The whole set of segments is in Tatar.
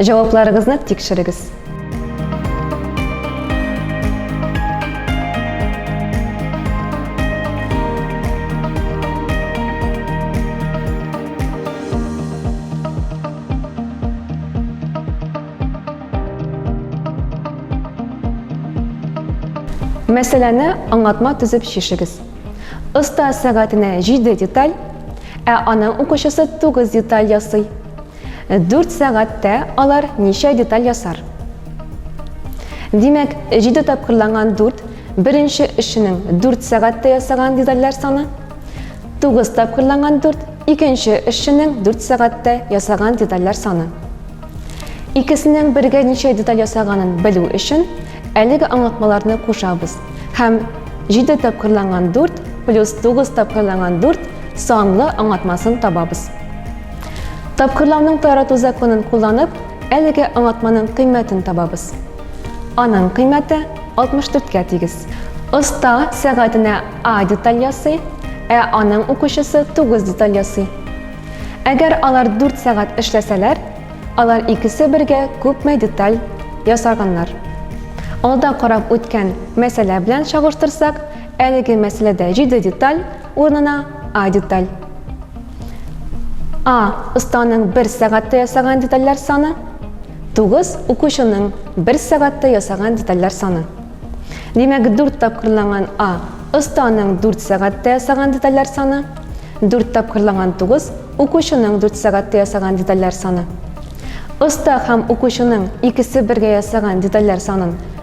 Җавапларыгызны тикшерегез. Мәсьәләне аңлатма төзеп чишегез. Оста сәгатенә 7 деталь, ә аның укучысы 9 деталь ясый. Дүрт сәгатьтә алар ничә деталь ясар? Димәк, җиде тапкырланган дүрт, беренче эшченең дүрт сәгатьтә ясаган детальләр саны, тугыз тапкырланган дүрт, икенче эшченең дүрт сәгатьтә ясаган детальләр саны. Икесенең бергә ничә деталь ясаганын белү өчен, әлеге аңлатмаларны кушабыз һәм җиде тапкырланган дүрт плюс тугыз тапкырланган дүрт санлы аңлатмасын табабыз. Тапкырлауның тарату законын кулланып, әлеге аңлатманың кыйммәтен табабыз. Аның кыйммәте 64-кә тигез. Оста сәгатенә А деталь ясый, ә аның укучысы 9 деталь ясый. Әгәр алар 4 сәгать эшләсәләр, алар икесе бергә күпме деталь ясарганнар. Алда карап үткән мәсьәлә белән чагыштырсак, әлеге мәсьәләдә 7 деталь, Урынына А деталь. А останың бер сәгатьтә ясаган детальләр саны, 9 укучының бер сәгатьтә ясаган детальләр саны. Димәк, 4 тапкырланган А останың 4 сәгатьтә ясаган детальләр саны, 4 тапкырланган 9 укучының 4 сәгатьтә ясаган детальләр саны. Оста һәм укучының икесе бергә ясаган детальләр санын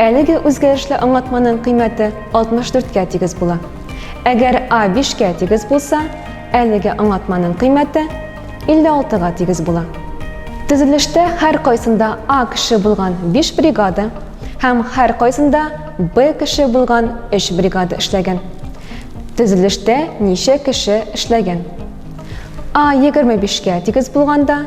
Әлеге үзгәрешле аңлатманың кыйммәте 64 кә тигез була. Әгәр А 5 кә тигез булса, әлеге аңлатманың кыйммәте 56 га тигез була. Төзелештә һәр кайсында А кеше булган 5 бригада һәм һәр кайсында Б кеше булган 3 бригада эшләгән. Төзелештә ничә кеше эшләгән? А 25 кә тигез булганда,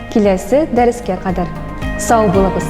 Киләсе дәрескә кадәр сау булыгыз!